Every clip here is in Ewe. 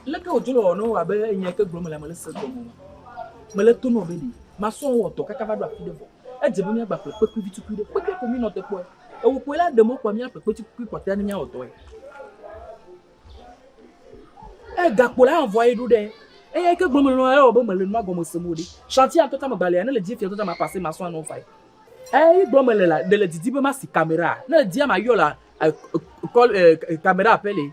leke wòdzo le wɔnɔ wɔ abe nya ke gblɔm le mele se gɔme o mele to nɔ be ɖi masɔ wɔ dɔ kaka va ɖo afi ɖe vɔ Edze be míagba ƒle kpekui vi tukui ɖe. Kpekui ko mínɔ te kpɔe. Ewo koe la ɖe mɔ kpɔa míaƒle kpekui tukui kpɔtɔea ne míawɔ dɔe. Eye gakpo la hã vɔa ye ɖo ɖe eya yi ke gblɔm mele nɔ ewɔ be mele nua gɔme sem o ɖe. Shanti ya ŋutɔ ta megbalea ne le dim fiaɖuɖɔ ta mapase masua nɔ vae. Eyi gblɔm mele la ɖe le didi be masi kamera. Ne le dia mayɔ la e e kɔl e kamera ƒe li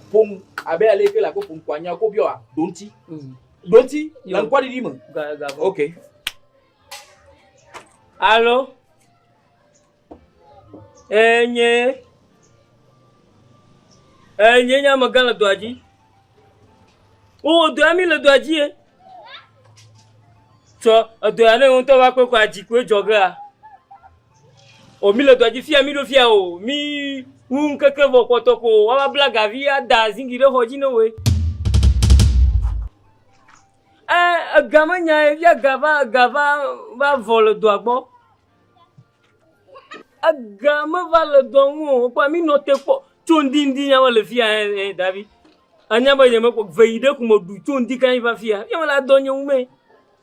ƒom abe ale ke le abe ƒom ko anya ko biɔa ɖoŋti ɖoŋti le ŋkɔɖiɖi me ok alo enye enye nye amegã le dɔa dzi wowɔ dɔa mi le dɔa dzi ye tsɔ edɔa ne ŋutɔ va kpekɔ adzi koe dzɔgea O mi le dɔa dzi fia mi ɖo fia o mi ŋu ŋkeke vɔ kpɔtɔ ko wa va bla gavi a da zingi ɖe xɔ dzi ne woe. Ɛ ega me nya ye fia ga va ga va va vɔ le dɔa gbɔ. Ega me va le dɔa ŋu o kpɔ mi nɔ te kpɔ tso ŋdi ŋdi nya me le fia ɛ ɛ davi. Anya be nye me kpɔ veyi ɖe kume ɖu tso ŋdi kan yi va fia. Fia me la dɔ nye ŋu mɛ.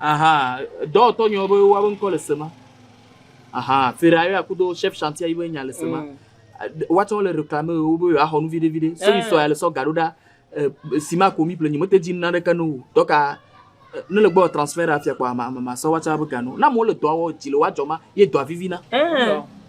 Aha, dɔwɔtɔ nyɔ be woabe ŋkɔ le sema. Aha, Ferrari akudo chef chantier yibe nya le sema. Mm. Woatsɔ le reklame wo be yewoaxɔ nu viɖe viɖe. Sɛbi eh. sɔ ya le sɔ gaɖo ɖa eh, sima ko mi ple nyi mete dzi nuna ɖeke no o. Dɔka eh, ne le gbɔ transfert afia kpɔ ama ama sɔ woatsɔ abe gano. Na mo le dɔa wɔ dzi le woadzɔ ma ye dɔa vivina.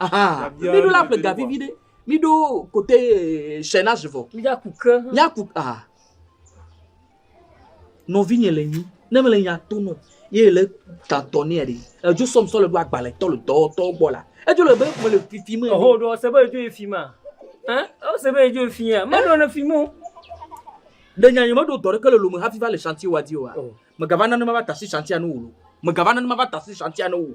Aha. Miɖo la ƒle gavi vi ɖe. Miɖo kote eh, sɛ na zivɔ. Miɖaku ke. Miaku aha. Nɔvinye le nyi. Ne mele nya to nɔ. Ye le tatɔ nɛ ɖe. Edzo sɔm sɔ le ɖo agbalẽ tɔ le dɔ tɔ gbɔ la. Edzo le be mele fifi me. Eho ɖo se be edzo efi ma. Hein? O se be edzo efi ya. Me ɖo ne fi mo. Ɖe nya nyeme ɖo dɔ ɖeke le lome hafi va le shanti wa di o. Megava nane mava tasi shantia no wo. Megava nane mava tasi shantia no wo.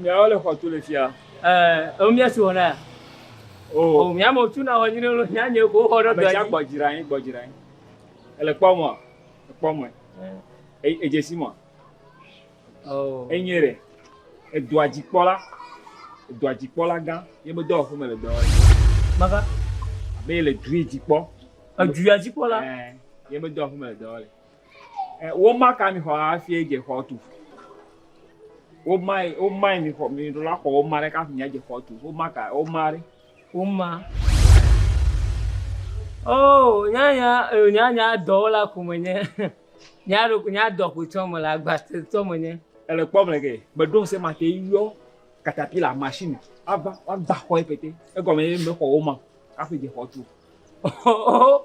Miawo le xɔtu le fia. Ɛɛ, ewo mía si wɔ na. O, mía me tu na wɔ nyine lo, mía nye ko xɔ ɖe dɔ. Mɛtsa gbɔ dzra anyi, gbɔ dzra anyi. Ele kpɔ mɔ, ekpɔ mɔ. Edzesi mɔ. O. Enye ɖe. Edɔa dzikpɔla, edɔa dzikpɔla gã, ye me dɔ ƒe me le dɔ wɔ. Maka. Be le dui dzikpɔ. Edua dzikpɔla. Ɛɛ, ye me dɔ ƒe me le dɔ wɔ. Womaka mi xɔ hafi adze xɔ tu. Womae, womae mi xɔ, mi ɖo la xɔ woma ɖe kafi mi adze xɔ tu. Womaka, woma ɖe. Woma. Oh, nyanya, eh, nyanya dɔwɔla ko menye. Nya ɖo, nya dɔ ko tsɔ mele, agbatetsɔ menye. Ele kpɔm le ke, meɖo ŋusẽ mate yɔ katapila machine ava woagba xɔe pɛtɛ. Egɔme ye mexɔ woma kafi dze xɔ tu. Oh, oh, oh.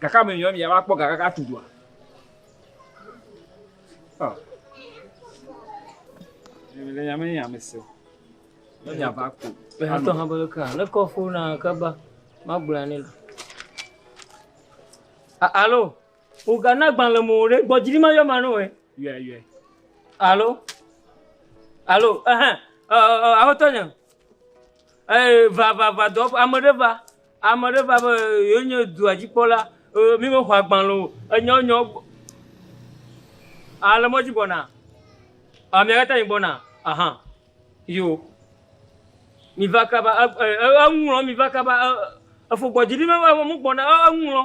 Gake ame nyɔmi ya va kpɔ ga kaka atu dua. Ɔ. Le nyame nye ame se. Ne nya va ko. Le hatɔ ha bele ka. Le kɔ fo na ka ba. Ma gbla ne la. Alo. O ga na gban le mo re. Gbɔ jiri ma yo ma no e. Yue yue. Alo. Alo. Eh eh. Eh eh. Aho to nya. Eh va va va do ame re va. Ame aɖe va be yewo nye dua dzi kpɔla, ee, mi me xɔ agbalẽ o, enya wo nyawo gbɔ. A le mɔdzi gbɔna? A mi akata mi gbɔna? Aha. Yo. Mi va kaba, e, e, e, eŋu lɔ mi va kaba, e, e, efo gbɔ dzi mi me va mo gbɔna, e, eŋu lɔ.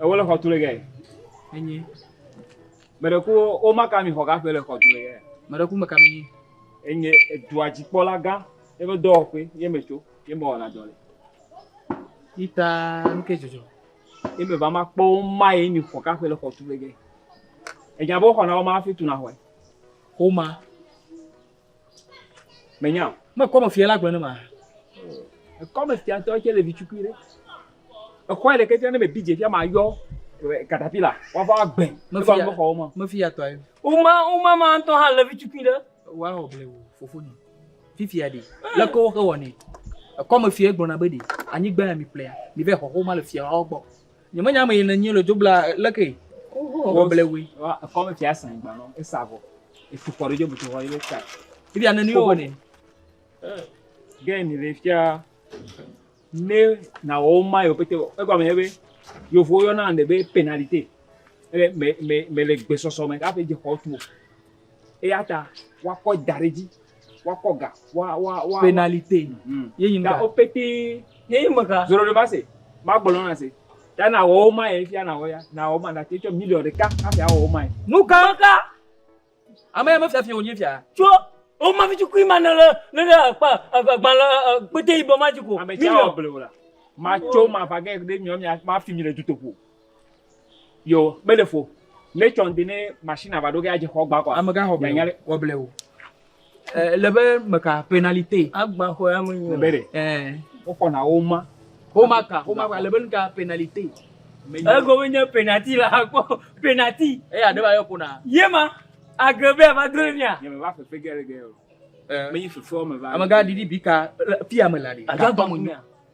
Ewo le xɔtu le gɛ. Enyi. Mɛɖe ku wo maka mi xɔ gaƒe le xɔtu le gɛ. Mɛɖe ku meka mi. Enyi edua dzikpɔla gã ye be dɔwɔƒe ye me tso ye me wɔna dɔ le. Ita nuke dzɔdzɔ. Ye me va ma kpɔ wo ma ye mi xɔ gaƒe le xɔtu le gɛ. Enya be wo xɔna wo ma hafi tuna xɔe. Xoma. Menya o. Me kɔme fia la gblɔ ne ma. Ekɔme fia ŋutɔ tse le vitukui ɖe. Exɔe ɖeke tse ne me bi dze fia ma yɔ katapila wava wa gbɛ. Me fia me xɔwo ma. Me fia tɔ ayi. Uma uma ma ŋutɔ hã le vitukui ɖe. Wa wɔ ble wo fofo ni. Fifia ɖe. Le ko wo ke wɔ ne. Ekɔme fia gblɔ na be ɖe. Anyi gbɛ mi ƒlea. Mi vɛ xɔxo ma le fia wa gbɔ. Nyemenya ame yi ne nyi le do bla le ke. Wo ble we. Wa ko me fia san gba no. E sa vo. E fu ko jo butu ho ile ka. Ti bia ne ni wo ne. Gen ni le fia. Ne na wo ma yo pete. E gba me be. Yo vo yo na ne be penalite. E me me me le gbe soso me ka pe je ko tu. Eya ta woakɔe da ɖe edzi, woakɔ ga, wa, wa, wa. Pénalité. Mm. Ye nyi Ta ga. wo pété, ne ye me ga. Zoɖoɖomase, magblɔ nɔ nase. Ta nawɔ wo ma ye fia nawɔ ya, nawɔ ma, nate tsɔ miliɔ ɖeka hafi awɔ wo ma ye. Nu ka? Ame ka? Ame ya me fia fia wonye fia. Tsɔ wo ma vitsikui ma ne le, ne le akpa, akpa gbalẽ, ɛ, kpété yibɔ ma dzi ko. Ame tsia awɔ blewu la. Matso, mava ge ɖe miɔ mia, mafi mi le dutoƒo. Yo, mele fo. Ne tsɔ ŋdi ne machine ava ɖo ge adze xɔ gba kɔa. Amega xɔ blewo. Xɔ blewo. Eh, le be meka penalite. Agba xɔ ya me nyo. Bere. Eh. Wo xɔ na wo ma. Wo ma ka, wo ma ka le be nka penalite. Ego me nye penalty la akpɔ penalty. E ya ɖeba yɔ kona. Ye ma agrebe ya va dole mia. Ye me va fefe gere gere. Eh. Me yi fefe o me va. Amega didi bika fia me la de. Agba mo nya.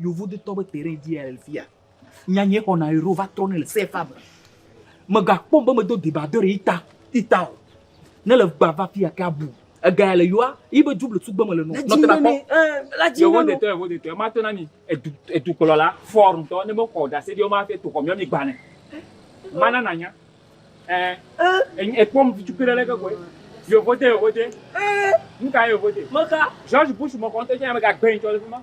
Yevu de tɔgbe te ɖe ŋdi le fia. Nya nye xɔ na ero va trɔ ne le sefa me. Me ga kpɔ be me do deba do re ita ita o. Ne le gba va fia ke abu. Ega ya le yoa yi be juble sugbe me le no. Nɔ te na kpɔ. La ji nɔ. Yevu de tɔ yevu de tɔ ma to na ni edu edu kplɔ la for ntɔ ne me xɔ da se di o ma te to xɔ mi mi gba ne. Ma na na nya. Eh. Eh. E kpɔ mi jupe le ke ko. Yevu de yevu de. Eh. Nka yevu de. Meka. George Bush mo konte nya me ga gbe ntɔ le fuma.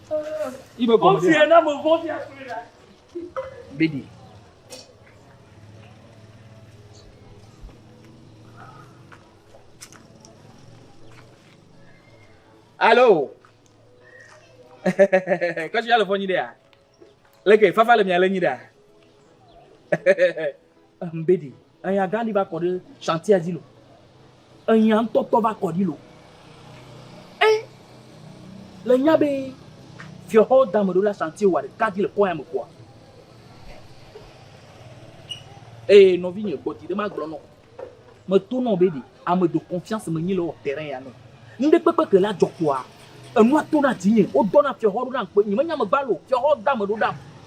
Bedi. Alo. Kasi ya le fɔ nyi ɖe ya. Leke fafa le mia le nyi ɖe ya. Ehmbedi, eya gã ɖi va kɔ ɖe shantia dzi lo. Eya ŋutɔ tɔ va kɔ ɖi lo. E le nya be fiɔxɔ dame ɖo la shanti wa ɖeka dzi le kɔ ya me kɔa. Eye nɔvi nye gbɔ ti ɖe ma gblɔ nɔ. Me to nɔ be ɖi ame do confiance me nyi le wɔ terrain ya nɔ. Ŋɖe kpekpe ke la jɔ kɔa. Enua to na ti nye. Wo dɔ na fiɔxɔ ɖo na ŋkpe. Nye me nya me gba lo. Fiɔxɔ dame ɖo ɖam.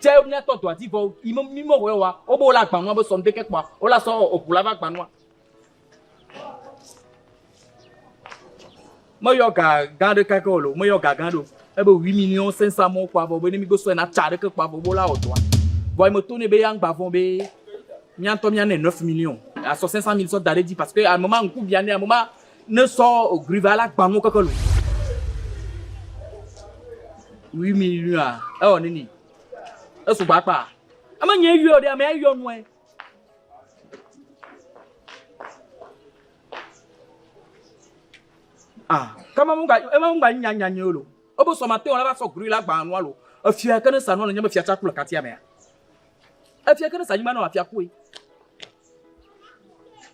Tsɛ míatɔ dɔa dzi vɔ yi mí mɔ wɔ wa wo be wo la agbanua be sɔn de ke kpɔa wo la sɔ eʋu la va agbanua. Meyɔ ga gã ɖe kake o lo, meyɔ ga gã ɖe o. Ebe wi mi ni wo sɛnsa mɔ kpɔa vɔ be ne mi gbe sɔe na tsa ɖe ke kpɔa vɔ wo la wɔ dɔa. Vɔ yi me to ne be ya ŋgba vɔn be mía ŋutɔ mía ne neuf millions asɔ sɛnsa mil sɔ da ɖe dzi parce que ame ma ŋku bia ne ame ma Ne sɔ ogri va la gbanu keke lu. Wi mi nua ewɔ nini. Eso gba kpa. Ame nye yɔ ɖe ame yɔ nue. Ah, kama mu ga ema mu ga nya nya nyo lo. Obo sɔ ma te wala va sɔ gri la gbanu alo. Efia ke ne sanu le nye me fia tsa kula katia mea. Efia ke ne sa nyima no afia kui.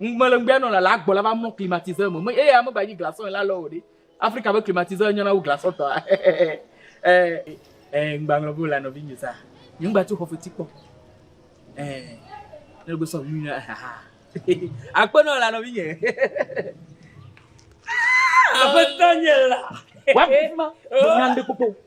Ŋugbelẽŋgbea nɔ la le agbɔ la va mlɔ climatiseur me. Me eya megba nyi glaçon ye la lɔ o ɖe. Afrika be climatiseur nyɔna wu glaçon tɔa. eh. Eh, ŋgba ŋlɔ be wòla nɔvinye sa. Nye ŋgba tso xɔfeti kpɔ. Eh, ne gbe sɔ ŋu na ha. Akpe nɔ la nɔvinye. Aƒetɔ nye la. Wa kuma. Nyan de koko.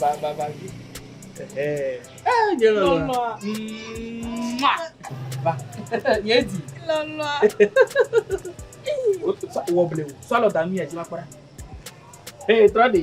Ba ba ba vi. Eh, nye lɔlɔa. Mua. Ba. Nye di. Lɔlɔa. Wɔ blewu. Sɔlɔ da mi edzi ma kpɔɖa. Ee, trɔ de.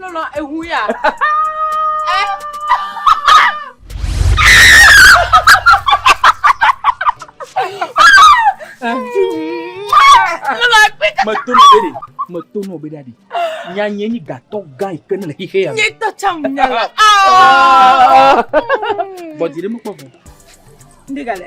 Lɔlɔ eŋu ya. Meto nɔ be ɖe, meto nɔ be ɖa ɖe. Nya nye nyi gatɔ gã yi ke ne le xixe ya. Nye tɔ tsa mu nya la. Bɔdi ɖe mekpɔ vɔ. Ndi gale.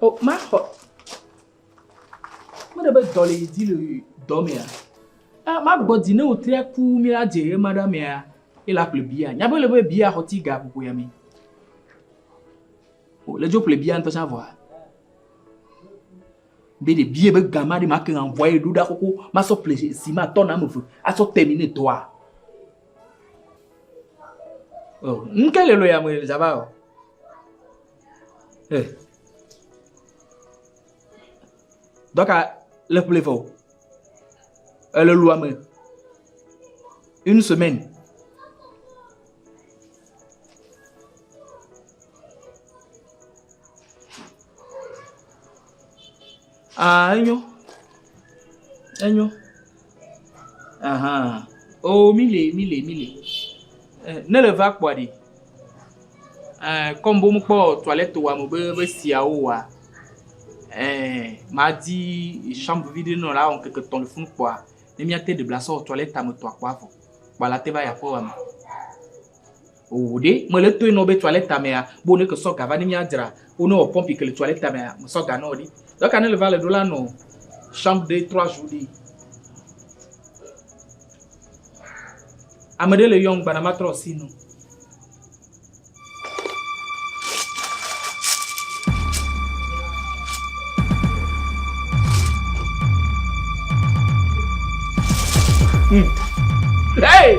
O, maxɔ. Mele be dɔ le dzi le dɔ mea. E, magbɔ dzi ne wotria ku mi la dze ema ɖa mea, ye la ƒle bia. Nya be le be bia xɔ ti ga ƒoƒo ya mi. O, le dzo ƒle bia ŋutɔ sa vɔa. Be de bia be gama de ma ke ŋa vɔa ye ɖo ɖa koko ma sɔ ƒle si ma tɔ na me ve asɔ temi ne dɔa. O, nke le lo ya me zaba o. Eh. Dɔka le kple fɔ. Ele lu ame. Une semaine. Ah enyo, enyo, ahan oo mi le mi le mi le eh, ne le va kpɔa ɖi eh, kɔm bo mekpɔ toilette wa me be be siawo wa eh, ma di chambre vide nɔ la wɔn keke tɔn le funu kpɔa ne mia te de bla sɔ toilette me tɔa kpɔa fɔ kpɔa la te va ya kpɔ wa me. Oo ɖe, mele toe nɔ be toilette mea, bo ne ke sɔ ga va ne mia dzra wo ne wɔ pumpi ke le toilette mea, me sɔ ga nɔ ɖi. Dɔ ka ne le va le ɖo la nɔ chambre de trois jours ɖi. Ame ɖe le yɔm gbana ma trɔ asi nɔ. Hmm. Hey!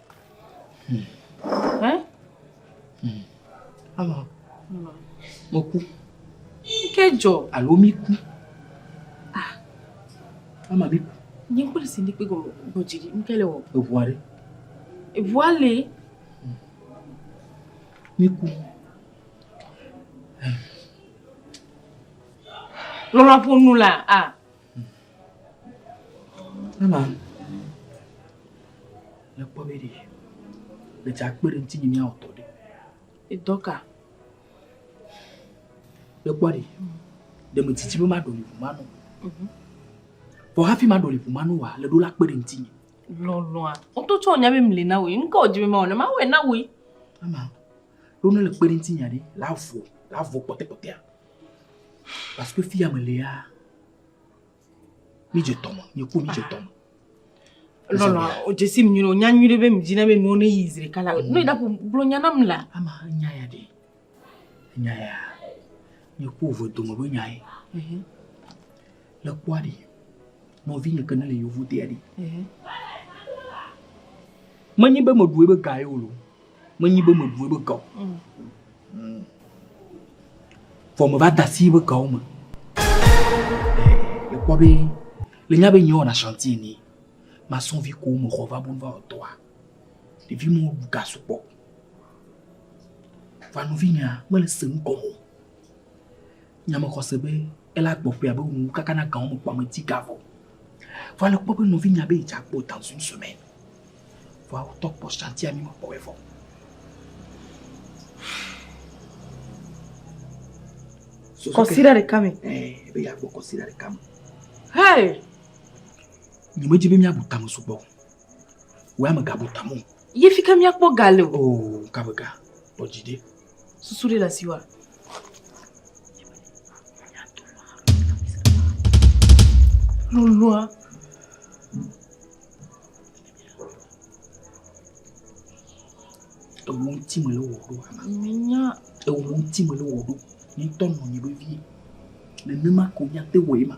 Alɔ, meku. Ke dzɔ. Alo mi ku. Ah. Ama mi ku. Nye kpɔli si ndi kpe gɔmɔ gbɔdzi ɖi, nu ke le wɔ. Eʋua ɖe. Eʋua le. Mi ku. Lɔlɔ ƒo nu la, ah. Ana, le kpɔ be ɖe le dza kpe ɖe ŋuti mía wɔtɔ ɖe. Edɔ ka? Le kpɔ ɖe ɖe me titi be ma ɖoli ʋu ma nɔ. Mhm. Vɔ hafi ma ɖoli ʋu ma nɔ wa le ɖo la kpe ɖe ŋuti. Lɔlɔa, ŋutɔ tsɔ nya be mle na wò. Ŋkɔ dzi be ma wɔ ne ma wɔ na wò. Ana, ɖo ne le kpe ɖe ŋuti nya ɖe la vɔ la vɔ kpɔtɛkpɔtɛa. Parce que fia me léa, mi je tɔmɔ, nye ko mi je tɔmɔ. Lɔlɔ, o je si mi nyuɖe, o nya nyuɖe be mi dzina be nuwo ne yi zire kala. Mm. Ne da ko gblɔ nya nam la. Ama nya ya de. Nya ya. Nye ko vo dome be nya ye. Mhm. Le kpɔa de. Nɔvi nye ke ne le yovo dea de. Mhm. Menyi be me ɖue be ga ye o lo. Menyi be meɖu ebe gawo. Mm. Vɔ me va da asi ebe gawo me. Le kpɔ be le nya be nyɔ wɔna chantier ni. Ma sɔn vi ko me xɔ va bon va ɔtɔa. Le vi mo du ga sukpɔ. Va no vi nya me le se nu kɔmo. Nya me xɔse be ele agbɔ ƒe abe ŋu kaka na gawo me kpɔ ame ti ga vɔ. Vɔ ale kpɔ be nɔvi nya be idza kpɔ ta zui sɔe mɛ. Vɔ awo tɔ kpɔ shanti ami me kpɔ wɛ vɔ. Kɔsira de kame. Eh, be ya kpɔ kɔsira de kame. Hey! Nye me dzi be mia bu tame su kpɔ. Wɛ ame ga bu tamo. Ye fi ke mia kpɔ ga le o. Oh, ka be ga. Kpɔ dzi de. Susu ɖe le asiwa. Lulua. Ewu ŋuti me le wɔ ɖo. Menya. Ewu ŋuti me le wɔ ɖo. Ŋutɔ nɔ nyi ɖo vie. Nenema ko nya te wɔ ema.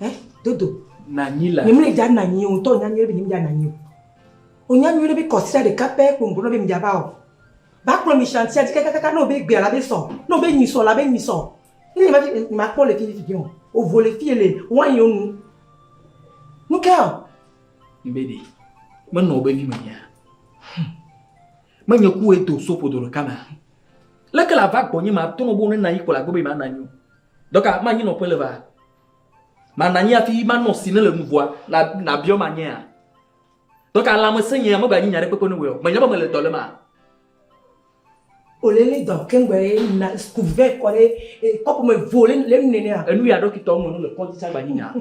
Eh, dodo. Nanyi la. Nyemle dza nanyi o, ŋutɔ nya nyuie be nyemdza nanyi o. Onya nyuie be kɔsira ɖeka pɛ kpo ŋgblɔ be mdza va o. Ba kplɔ mi shantia dzi kakakaka ne wobe gbea la be sɔ, ne wobe nyi sɔ la be nyi sɔ. Ne nyema vi eh, nyema kpɔ le fi fifi o. Ovo le fi ele wine yo nu. Nuke o. Mbe ɖe, menɔ wobe vi me nyea? Hm. Menye ku edo sopo do ɖeka mea? Leke la va gbɔ nye ma tɔnɔ bo ne nanyi kpɔ la gbɔ be ma nanyi o. Dɔka, ma nyi nɔƒe le va. Ma na nyi afi ma nɔ si ne le nuvua na na biɔ ma nyea. Dɔka la me se nyea me ba nyi nya ɖe kpekpe ne wɔ. Me nya ba me le dɔ le ma. Ole le dɔ kengbe na skuve kɔ le kɔpu me vo le le nene a. Enu ya dɔkitɔ me nu le kɔnti sa ba nyi nya.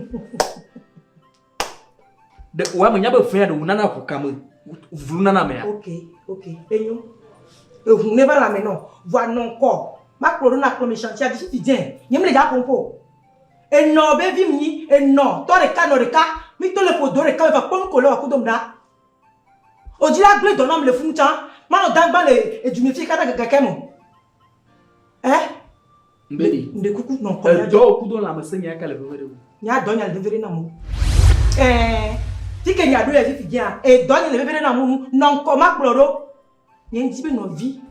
ɖe wòame nya be vea ɖe wònana ʋu kame vlu nana mea. ok ok enyo eʋu ne va lãme nɔ vɔa nɔ ŋkɔ makplɔ ɖo nakplɔ mi shantia dzi ti dze nye mi le dza ƒompo enɔ be vi mi nyi enɔ tɔ ɖeka nɔ ɖeka mi to le ƒo do ɖeka me va kpɔ nuko le wa kudo mi ɖa odzi la gble dɔ nɔ mi le funu tsã manɔ dagba le edu mi fi kaka gake me. Eh? Mbedi. Mbe kuku nɔ kɔ. Edɔ oku do la mese nya ka le veve de wo. Nya dɔ nya le veve de na mo. Eh. Ti ke nya do ya fifi dia. E dɔ nya le veve de na mo nu. Nɔ nkɔ ma kplɔ do. Nye ndi be nɔ vi.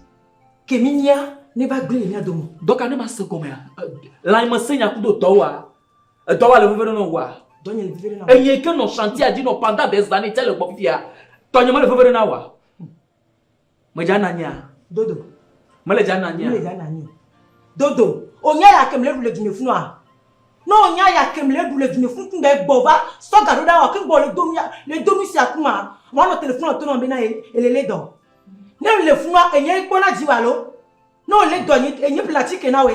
Ke mi nya ne va gbe le nya do mo. Dɔ ka ne ma se gɔme ya. La mese nya ku do dɔ wa. E dɔ wa le veve de nɔ wa. Dɔ nya le veve de na mo. E ye ke nɔ shantia di nɔ panda de zane tse le gbɔ fifi ya. Tɔ nya ma le veve de na wa. Medza na nyea. Dodo. Mele dza na nyea. Mele dza na nyea. Dodo. Onya ya ke mele ɖu le dume funu a. Ne onya ya ke mele ɖu le dume funu kun bɛ gbɔ va sɔ ga ɖo ɖa wa kun bɔ le donu ya le donu sia kun ma wa nɔ telefonu a tɔnɔ be na ele le dɔ. Ne mele funua enye kpɔ na dzi wa lo. Ne ole dɔ enye enye pla ci ke na we.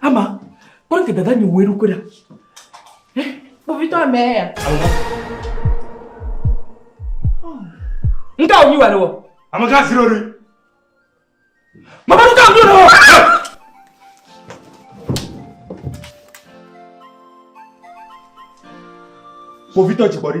Ama, kpɔ ke dada nyi wòe ɖokui ɖa. Eh, kpovitɔ amɛ ya. Nga wònyi wà ɖe wɔ. Ame gã si ɖo ɖe. Mama ɖo ka wònyi ɖe wɔ. Kpovitɔ dzigbɔɖi.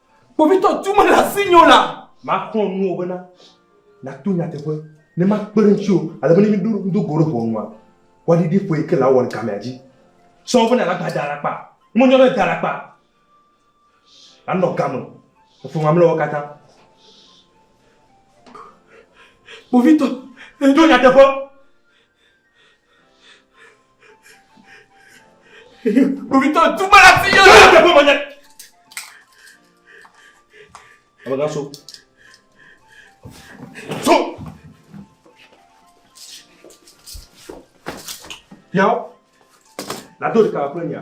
Kpovitɔ tu mele asi nyo la. Maxlɔ̃ nuwo bena nàto nyateƒe ne makpe ɖe ŋutiwò ale be ne míedo go ɖe ʋɔnua, woaɖiɖi ƒe yi ke le awɔ le gamea dzi. Sɔ bena nàgbã da alakpa. Ne menyo na da alakpa, nànɔ game ƒe mamlɛawo katã. Kpovitɔ, do nyateƒe. Kpovitɔ tu me la fi yɔrɔ la teƒe mɔnyɛ. Abaka so. So. Yawo. Nado ɖeka le kple nya.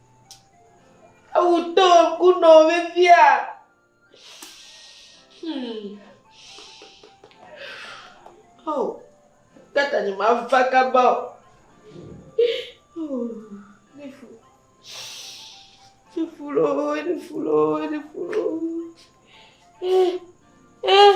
Ewu to ŋku nɔ wo vevia. Hmm. Oh. Kata ni ma va kaba o. Ne fu. Ne fu lo, ne fu lo, ne fu lo. Eh. Eh.